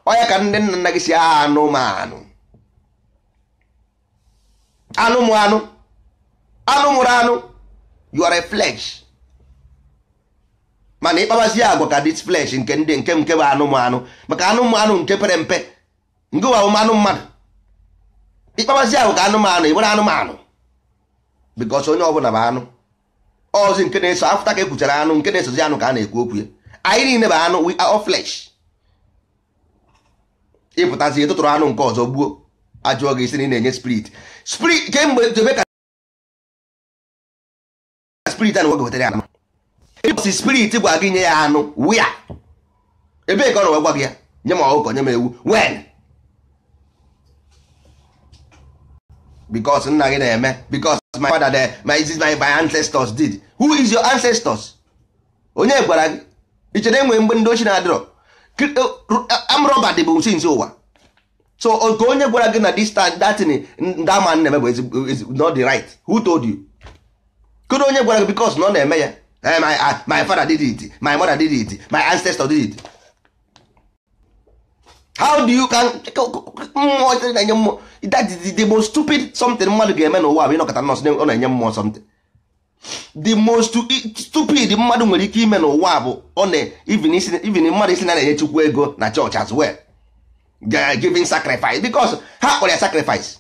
ọ ya ka ndị nna nna ji sị anụmanụ anụ mụ anụ anụ mụrụ anụ you are a flesh mana ị kpabazi agwa ka this flesh nke ndị nke nke bụ anụ mụ anụ maka anụ mụ anụ nke pere mpe nke bụ anụ mmadụ ị kpabazi agwa ka anụmanụ ị bụrụ anụmanụ because onye ọbụla bụ anụ ọzi nke na-eso after ka e kwuchara anụ nke na-esozi anụ ka a na-ekwu okwu ya anyị niile bụ anụ we are all flesh ị pụtazi tụtụrụ anụ nke ọzọ gbuo a jụọ gị ị sị na ị na-enye spirit spirit kemgbe jebe ka spirit a nọ gwa gị wetara ya anụ ụbọsị spirit gwa gị nye ya anụ where ebee ka ọ nọ wee gwa gị ya nye m ọkụkọ nye m ewu when because nna gị na-eme because my father there my this my my ancestors did who is your ancestors onye gwara gị i chere enwere mgbe ndị oshi na-adịrọ armed robber dị bụ since ụwa so nke onye gwara gị na this that thing that man na-eme bụ not the right who told you kedu onye gwara gị because na ọ na-eme ya Eh, my, uh, my father did it my mother did it my ancestor did it how do you can mmụọ chere na-enye mmụọ that is the most stupid something mmadụ ga-eme n'ụwa bụ ịnọkata nọọ sị ọ na-enye mmụọ something the most stupid mmadụ nwere ike ime n'ụwa bụ ọ na even mmadụ ịsị na a na-enye chukwu ego na church as well giving sacrifice because ha kpọrọ ya sacrifice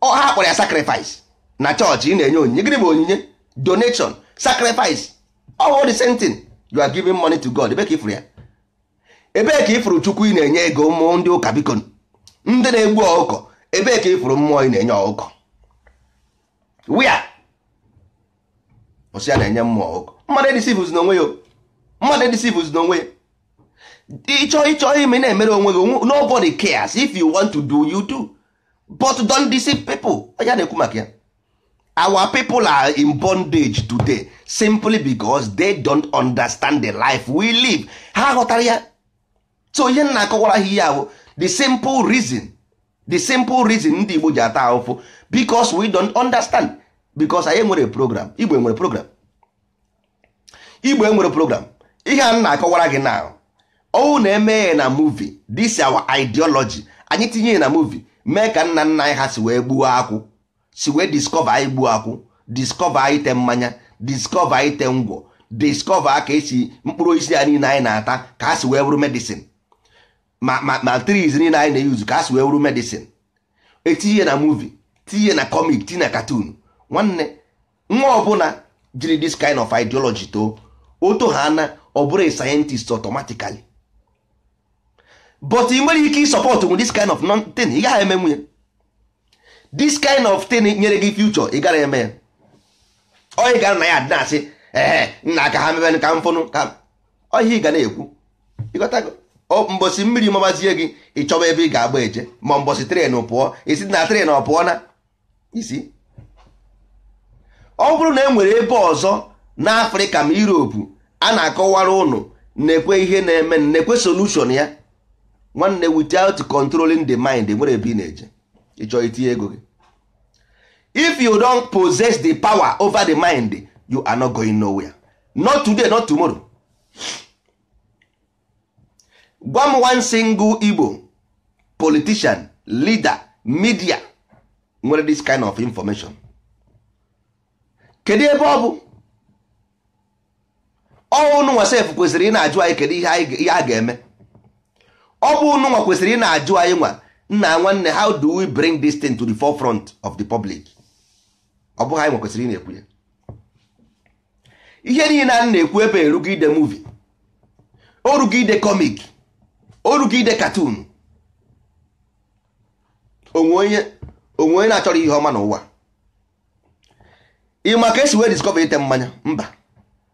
ọ ha kpọrọ ya sacrifice na church ị na-enye onyinye gịnị bụ onyinye donation sacrifice all the same thing you are giving money to God ebee ka ị fụrụ ya ebee ka ị fụrụ chukwu ị na-enye ego ụmụ ndị ụka biko ndị na-egbu ọkụkọ ebee ka ị fụrụ mmụọ ị na-enye ọkụkọ where ọ sị ya na-enye mmụọ ọkụkọ mmadụ edeceivezina onwe ya mmadụ edeceivezina onwe ya ị chọọ ị chọọ ime na-emere onwe gị nobody cares if you want to do you do but don't deceive people ọ ya a na-ekwu maka ya our people are in bondage today simply because they don't understand the life we live ha aghọtarọ ya so ihe m na-akọwara ha ihe ahụ the simple reason the simple reason ndị Igbo ji ata ahụfụ because we don't understand because anyị enwerọ program Igbo enwerọ program igbo enwerọ program ihe a na-akọwara gị now ọ wụ na e mee ya na movie this our ideology anyị tinye ya na movie mee ka nna nna anyị ha si wee gbuo akwụ si wee discover anyị gbuo akwụ discover anyị te mmanya discover anyị te ngwọ discover ka esi mkpụrụ osisi a niile anyị na-ata ka ha si wee bụrụ medicine ma ma ma trees niile anyị na-euse ka ha si wee wụrụ medicine e tinye na movie tinye na comic tinye na cartoon nwanne nwa ọbụla jiri this kind of ideology too oto ha na ọ bụrụ a scientist automatically but i nwerọ ike ịsupportnwu this kind of thing ị gaghị emenwu ya this kind of thing nyere gị future ị gara eme ya onye gara na ya adị na-asị ee nna ka ha mebe ka m fụnụ ka ọ ihe ị ga na-ekwu ị ghọtago mbọsị mmiri mabazie gị ị chọba ebe ị ga-agba eje ma mbọsị train pụọ isi na train ọ pụọ na isi ọ bụrụ na e nwere ebe ọzọ n'afrịka ma europe a na-akọwara ụnụ na-ekwu ihe na-eme na-ekwu solution ya nwanne without controlling the mind nwerọ ebe ị na-eje ị chọ itinye ego gị if you don't possess the power over the mind you are not going nowhere not today not tomorrow gwa m one single Igbo politician leader media nwere this kind of information kedu ebe ọ bụ ọ ụnụ nwa sef kwesịrị ịna-ajụ anyị kedu ihe a ga-eme ọ bụ ụnụ nwa kwesịrị ịna-ajụ anyị nwa nna nwanne how do we bring this thing to the forefront of the public ọ bụghị anyị nwa kwesịrị ịna-ekwu ya ihe niile a na-ekwu ebe o rugo ide movie o rugo ide comic o rugo ide cartoon o nwe onye na-achọrọ ihe ọma n'ụwa ị ma ka e si wee discover ite mmanya mba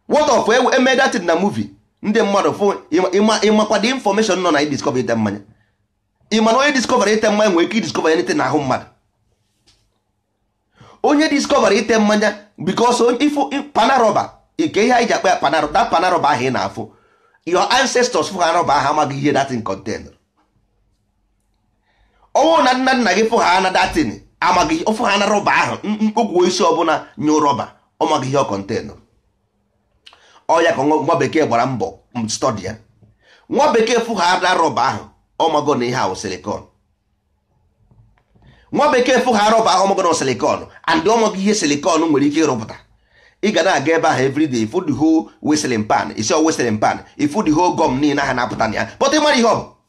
what of e mee that thing na movie ndị mmadụ fụ ị makwa the information nọ na idiscover ite mmanya ị ma na onye discover ite mmanya nwere ike idiscover anything n'ahụ mmadụ onye discover ite mmanya because ị fụ pana rubber like ihe anyị ji akpọ ya pana rubber pana rubber ahụ ị na-afụ your ancestors fụ pana rubber ahụ amaghị ihe that thing contain ọ wụ na nna nna gị fụ ha na that thing amaghị ọ fụ pana rubber ahụ mkpokwu osisi ọbụla nye rubber ọ maghị ihe ọ contain ọ ya ka nwa bekee gbara mbọ study ya nwa bekee fụ pana rubber ahụ ọ mago na ihe a wụ silicon nwa bekee fụ pana rubber ahụ ọ mago na silicon and ọ ma ihe silicon nwere ike ịrụpụta ị ga na-aga ebe ahụ everyday ị fụ the whole whistling pine ị sị ọ whistling pine ị fụ the whole gum niile ahụ na-apụta na ya pụta ị marọ ihe ọ bụ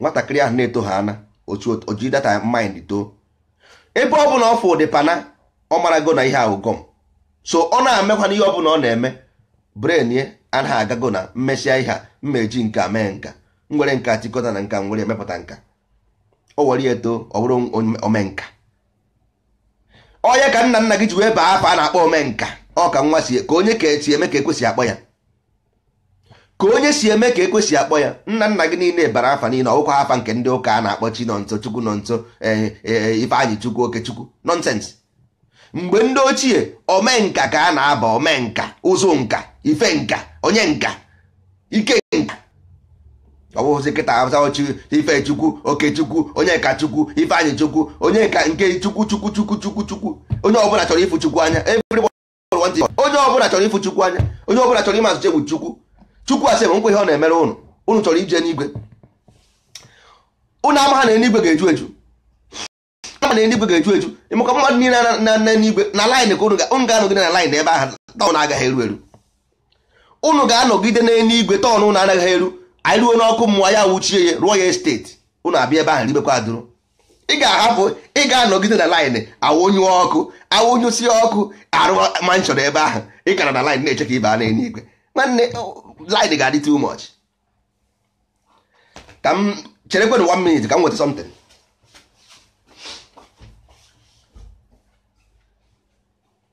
nwatakịrị ahụ na-eto ha ana o ji that mind too ebe ọ bụla ọ fụ ụdị pana ọ marago na ihe a wụ gum so ọ na-emekwanụ ihe ọ bụla ọ na-eme brain ya na-agago na m mesịa ihe a m ma-eji nka mee nka m were nka tikọta na nka m were mepụta nka o were ya eto ọ bụrụ omenka ọ ya ka nna nna gị ji wee baa afa a na-akpọ omenka ọ ka nwa si ka onye ka esi eme ka e kwesị akpọ ya ka onye si eme ka e kwesị akpọ ya nna nna gị niile bara afa niile ọ wụkwa afa nke ndị ụka a na-akpọ chinọnso chukwunọnso eh, eh, eh, ifeanyịchukwu okechukwu nonsense mgbe ndị ochie omenka ka a na-aba omenka ụzụnka ifenka onyenka ikenka ọ bụghịzi kịta a zawa chi ifechukwu okechukwu onyekachukwu ifeanyịchukwu onye ka nke chukwu chukwu chukwu chukwu chukwu onye ọbụla chọrọ ịfụ chukwu anya onye ọbụla chọrọ ịfụ chukwu anya onye ọbụla chọrọ ịmazụ chegbu chukwu chukwu asị m nkwa ihe ọ na-emere ụnụ ụnụ chọrọ ije n'igwe ụnụ amaha na eluigwe ga-eju eju ama na eluigwe ga-eju eju ịmụka mmadụ niile na n'enuigwe na line ka ụnụ ga-anọgide na line ebe ahụ turn agaghị eru eru ụnụ ga-anọgide n'eluigwe turn ụnụ anaghị eru anyị ruo n'ọkụ mmụọ ya wuchie ya rụọ ya estate ụnụ abịa ebe ahụ ribekwa adụrụ ị ga-ahapụ ị ga-anọgide na line awụnyụ ọkụ awụnyụsi ọkụ a rụọ mansion ebe ahụ ị gara na line na-eche ka ị baa n'enuigwe nwanne line ga-adị too much ka m cherekwenụ one minute ka m nweta something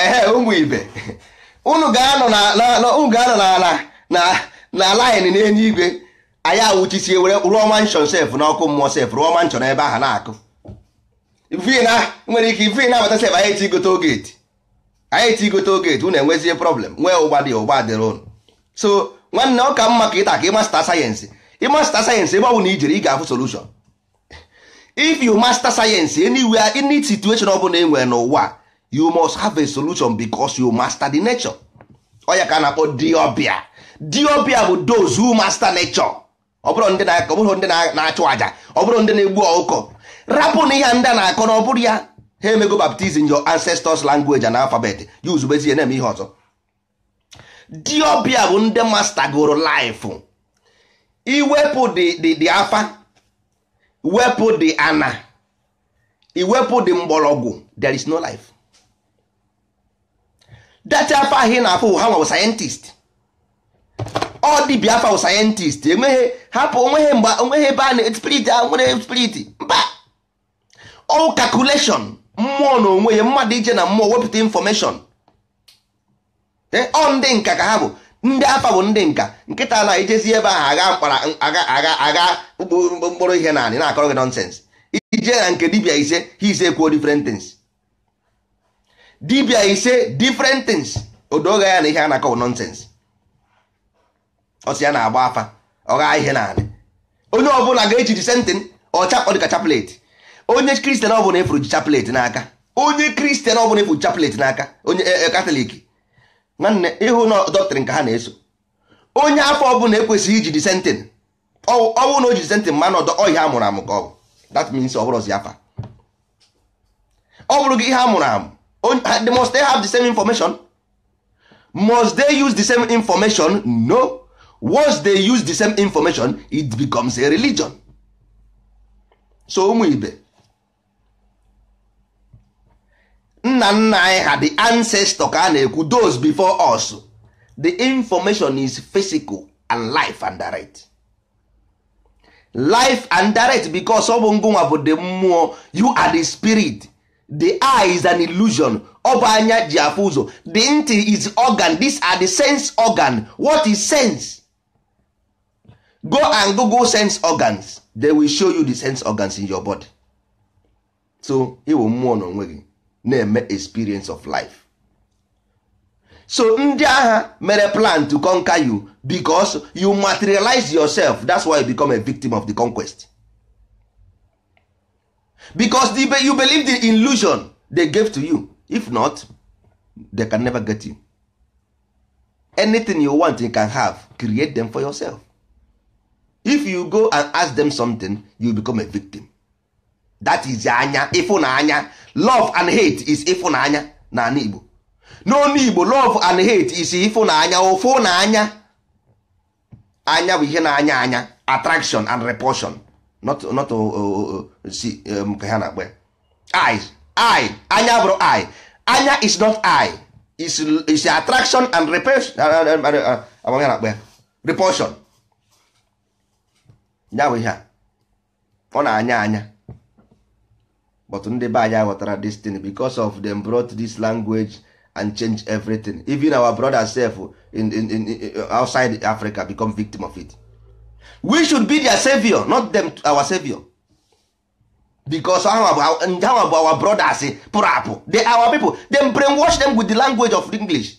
ehe ụmụ ibe unu ga-anọ na na na line n'eluigwe anyị awụchisie were rụọ mansion sef n'ọkụ mmụọ sef rụọ mansion ebe ahụ na-akụ even e nwere ike even abata sef anyị etigote gate anyị etigote gate unu enwezie problem nwee ụgba dị ụgba dịrị ụnụ so nwanne ọ ka mma ka ịta ka ị master science ị master science ebe ọ bụla i jere ị ga-afụ solution if you master science anywhere any situation ọ bụla e nwere n'ụwa you must have a solution because you master the nature ọ ya ka a na-akpọ di ọbịa di ọbịa bụ those who master nature ọ bụrọ ndị na-akọ ọ bụrọ ndị na- na-achụ aja ọ bụrọ ndị na-egbu ọkụkọ rapụ na ihe a ndị a na-akọ na ọ bụrọ ya ha emego baptism your ancestors language and alphabet ya use bezie ya na-eme ihe ọzọ di ọbịa bụ ndị master goro life i wepụ di di di afa wepụ di ana i wepụ di mgbọrọgwụ there is no life that afa ahụ ị na-afụ ha nwa scientist ọ dibịa afa wụ scientist enweghị hapụ onweghị mgbe onweghị ebe a na spirit a nwere spirit mba ọ calculation mmụọ na onwe ya mmadụ ije na mmụọ wepụta information ọ ndị nka ka ha bụ ndị afa bụ ndị nka kịta na i jezie ebe ahụ agha mkpara agha agha agha mkpụrụ ihe n'anị na-akọrọ gị nonsense i je na nke dibia ise ha ise kwuo different things dibia ise different things o doo gị anya na ihe a na-akọ wụ nonsense ọ sị ya na-agba afa ọ gha ihe n'anị onye ọbụla ga-eji the same thing ọ chap ọ dịka chaplet onye christian ọbụla ị fụrụ ji chaplet n'aka onye christian ọbụla ị fụrụ ji chaplet n'aka onye e, e, catholic nwanne ị hụ na ọ doctrine ka ha na-eso onye afa ọbụla ekwesịghị iji the same thing ọwụ na o ji sentị mmanụ ọdọ ọ ihe a mụrụ amụ ka ọ bụ that means ọ bụrọzi afa ọ bụrụ gị ihe a mụrụ amụ they must they have the same information must they use the same information no once they use the same information it becomes a religion so ụmụ ibe nna nna anyị ha the ancestor ka a na-ekwu those before us the information is physical and live and direct live and direct because ọ bụ ngụnwa bụ the mmụọ you are the spirit the eye is an illusion ọ bụ anya ji afụ ụzọ the ntị is organ these are the sense organ what is sense go and google sense organs they will show you the sense organs in your body so ị wụ mmụọ n'onwe gị na-eme experience of life so ndị agha mere plan to conquer you because you materialize yourself that's why you become a victim of the conquest because the, you believe the illusion they gave to you if not they can never get you anything you want you can have create them for yourself if you go and ask them something you become a victim that is anya ịfụnanya love and hate is ịfụnanya na ana igbo n'onu igbo love and hate is ịfụnanya ụfụnanya anya bụ ihe na-anya anya attraction and repulsion not not see um, ka ha na-akpọ ya eye eye anya abụrọ eye anya is not eye is is attraction and repulsion uh, uh, uh, ama m ihe a na-akpọ ya repulsion ya bụ ihe a ọ na-anya anya but ndị be anyị aghọtara this thing because of them brought this language and change everything even our brother self in, in, in, outside Africa become victim of it we should be their savior not them our savior because ha bụ our brothers pụrụ apụ they our people them brainwash them with the language of English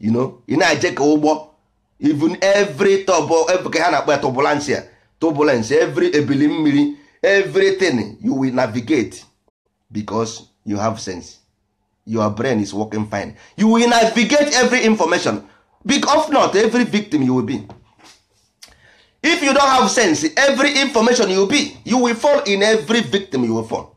you know ị na-eje ka ụgbọ even every tọbọ ka ha na-akpọ ya turbulence ya turbulence every ebili mmiri everything you will navigate because you have sense your brain is working fine you will navigate every information big of not every victim you will be if you don't have sense every information you be you will fall in every victim you will fall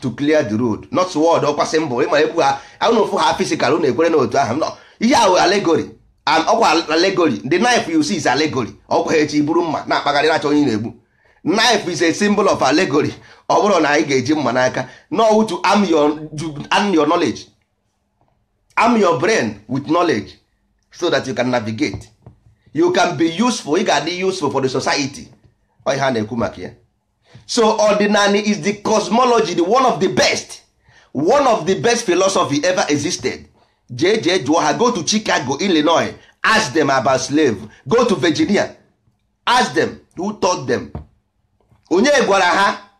to clear the road not sword ọkwa symbol ịma ekwu ha ahụ ofu ha physical unu ekwere na otu ahụ ihe ahụ allegory and ọkwa allegory the knife you see is allegory ọkwa ha echi buru mma na-akpagharị na-achọ onye na-egbu knife is a symbol of allegory ọ bụrọ na anyị ga-eji mma n'aka no to arm your, arm your knowledge arm your brain with knowledge so that you can navigate you can be useful ị ga-adị useful for the society ọ ihe a na-ekwu maka ya so ọdịnanị is the cosmology the one of the best one of the best philosophy ever existed jee jee jụọ ha go to Chicago Illinois ask them about slave go to Virginia ask them who taught them onye gwara ha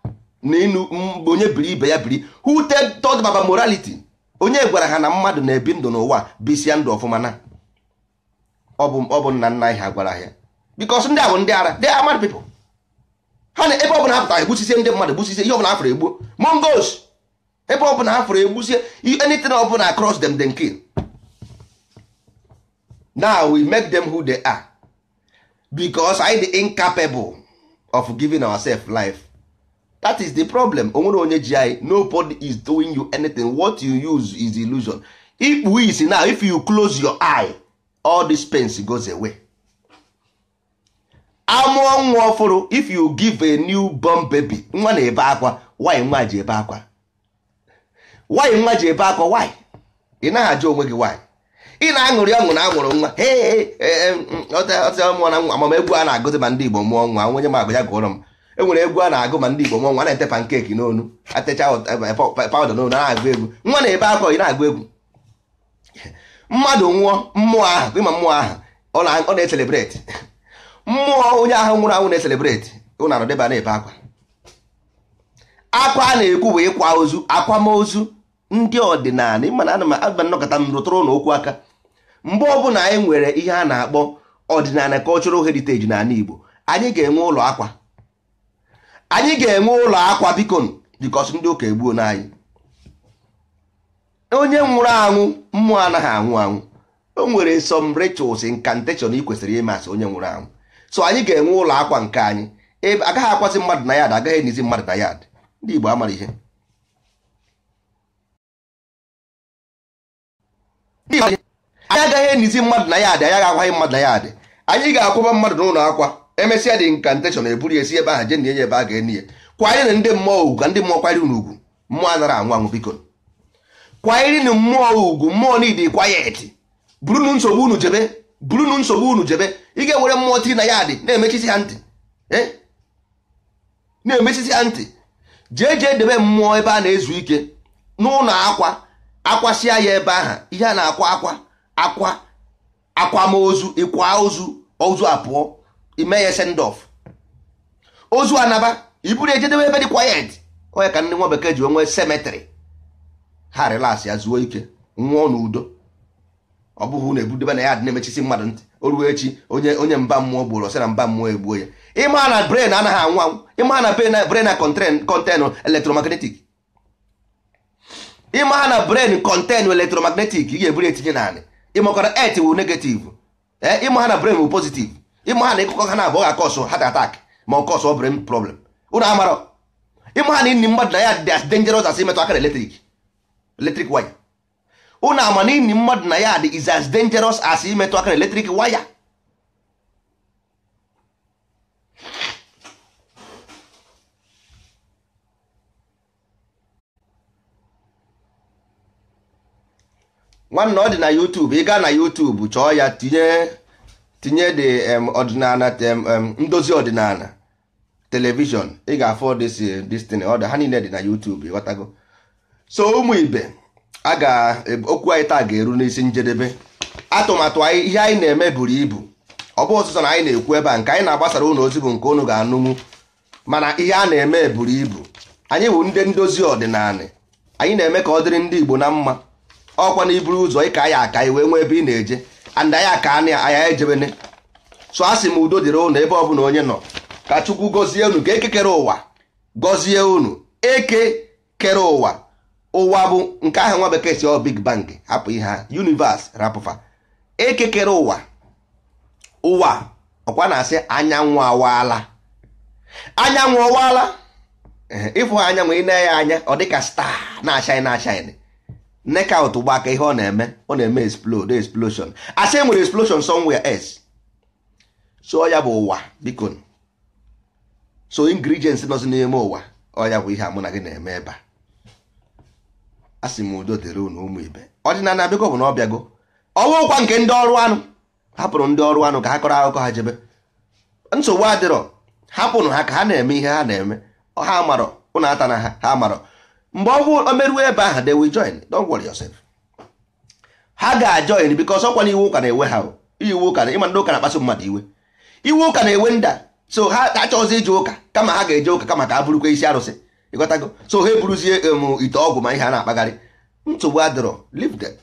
na inu onye biri ibe ya biri who taught them about morality onye gwara ha na mmadụ na-ebi ndụ n'ụwa bisia ndụ ọfụma na ọ bụ ọ bụ nna nna anyị ha gwara ha because ndị ahụ ndị ara they are mad people ha na ebe ọbụla ha pụtara egbusisie ndị mmadụ egbusisie ihe ọbụla ha fụrụ egbuo Mongols ebe ọbụla ha fụrụ egbusie anything ọbụla across them dey kill na we make them who they are because anyị dị incapable of giving ourselves life that is the problem o nwerọ onye ji anyị nobody is doing you anything what you use is illusion i kpuo isi now if you close your eye all this pains goes away a mụọ nwa ọfụrụ if you give a new born baby nwa na-ebe akwa why nwa ji ebe akwa why nwa ji ebe akwa why ị naghị ajụ onwe gị why ị na-aṅụrị ọṅụ na a mụrụ nwa ọtịmụọ na nwa ama m egwu a na-agụzi ma ndị Igbo mụọ nwa onye ma agụ ya gụọrọ m e nwere egwu a na-agụ ma ndị Igbo mụọ nwa na-ete pancake n'onu e techa powder n'onu na-agụ egwu nwa na-ebe akwa ị na-agụ egwu mmadụ nwụọ mmụọ ahụ ị ma mmụọ ahụ ọ na-eselebreti mmụọ onye ahụ nwụrụ anwụ na-eselebreti unu anọdebe na-ebe akwa akwa a na-ekwu bụ ịkwa ozu akwamozu ndị ọdịnanị ị ma na ana m aba nnọkọta m rụtụrụ n'okwu aka mgbe ọbụla anyị nwere ihe a na-akpọ ọdịnanị cultural heritage n'anị Igbo anyị ga-enwe ụlọ akwa anyị ga-enwe ụlọ akwa bikonụ because ndị ụka egbuona anyị onye nwụrụ anwụ mmụọ anaghị anwụ anwụ o nwere some rituals incantation ị kwesịrị ime asị onye nwụrụ anwụ so anyị ga-enwe ụlọ akwa nke anyị ebe a gaghị akwazi mmadụ na yard a gaghị enizi mmadụ na yard ndị Igbo amara ihe anyị agaghị enizi mmadụ na yard anyị akwaghị mmadụ na yard anyị ga-akwaba mmadụ n'ụlọ akwa e mesịa the incantation e buru ya si ebe ahụ jee na enie ebe a ga-eni ya kwanyerenụ ndị mmụọ ugwu ka ndị mmụọ kwanyere unu ugwu mmụọ anara anwụ anwụ bikonụ kwanyerenụ mmụọ ugwu mmụọ need quiet burunu nsogbu unu jebe burunu nsogbu unu jebe ị ga-ewere mmụọ tiri na yard na-emechisi ha ntị eh? na-emechisi ya ntị jee jee debe mmụọ ebe a na-ezu ike n'ụlọ akwa a kwasịa ya ebe ahụ ihe a na-akwa akwa akwa akwamozu ịkwa ozu ozu apụọ i mee ya send off ozu anaba i buru jee debe ebe dị quiet ọ ya ka ndị nwa bekee ji enwe cemetery ha relax ya zuo ike nwụọ n'udo ọ bụghị unu ebudebe na yard na-emechisi mmadụ ntị o ruo echi onye onye mba mmụọ gburu ọ sị na mba mmụọ egbuo ya ị ma na brain anaghị anwụ anwụ ị ma na brain na contain electromagnetic ị ma na brain contain electromagnetic ị ga-eburu etinye n'anị ị makwara earth wụ negative ee eh, ị ma na brain wụ positive ị ma ha na ịkụkọ ha naabụọ ga cause heart attack ma ọ cause brain problem unu amara ị ma na ini mmadụ na yard as dangerous as imetụ aka na electric electric wire unu ama na ini mmadụ na yard is as dangerous as imetụ aka na electric wire nwanne ọ dị na YouTube ị gaa na YouTube chọọ ya tinye tinye the ọdịnanị ndozi ọdịnala television ị ga-afụ this eh, this thing ọ dị ha niile dị na YouTube ị ghọtago so ụmụ ibe a ga okwu anyị taa ga-eru n'isi njedebe atụmatụ anyị ihe anyị na-eme buru ibu ọ bụ sọsọ na anyị na-ekwu ebe a nke anyị na-agbasara ụnụ ozi bụ nke ụnụ ga-anụnwu mana ihe a na-eme buru ibu anyị bụ ndị ndozi ọdịnala anyị na-eme ka ọ dịrị ndị Igbo na mma ọkwa na i buru ụzọ ịka ya aka i wee nwee ebe ị na-eje and anyị aka anị anya ejebene so a sị m udo dịrị ụnụ ebe ọbụla onye nọ ka Chukwu gọzie unu ka eke kere ụwa gọzie unu eke kere ụwa ụwa bụ nke ahụ nwa bekee sị ọ big bang hapụ ihe ha universe rapụ fa eke kere ụwa ụwa ọkwa na-asị anyanwụ awaala anyanwụ awaala ịfụ ha anyanwụ ị na-ene ya anya ọ dịka star na-ashine na-ashine knockout gbaa ka ihe ọ na-eme ọ na-eme explode explosion a sị e nwere explosion somewhere else so ọ ya bụ ụwa biko so ingredients nọzi n'ime ụwa ọ ya bụ ihe a mụ na gị na-eme ebe a a sị m udo dịrị unu ụmụ ibe ọdịnala biko bụ na ọ bịago ọwụkwa nke ndị ọrụ anụ hapụrụ ndị ọrụ anụ ka ha kọrọ akụkọ ha jebe nsogbu adịrọ hapụnụ ha ka ha na-eme ihe ha na-eme ha amarọ ụnụ atana ha ha amarọ mgbe ọ bụ o meruo ebe ahụ they will join don't worry yourself ha ga-ajoin because ọkwa na iwe ụka na-ewe ha iwe ụka na ị ma ndị ụka na-akpasu mmadụ iwe iwe ụka na-ewe ndị a so ha achọghịzi ije ụka kama ha ga-eje ụka kama ka ha bụrụkwa isi arụsị ị ghọtago so ha eburuzie emu um, ite ọgwụ ma ihe a na-akpagharị nsogbu adịrọ leave them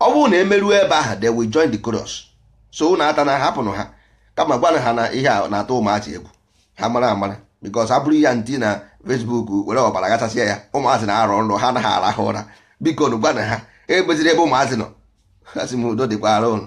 ọ bụrụ na e meruo ebe ahụ they will join the chorus so ụnụ atana hapụnụ ha kama gwanụ ha na ihe a na-atụ ụmụazị egwu ha mara amara because ha buru ya tinye na Facebook were ọbara gachasịa ya ụmụazị na-arọ nrọ ha anaghị arahụ ụra bikonụ gwanụ ha ebeziri ebe ụmụazị nọ a sị m udo dịkwara ụnụ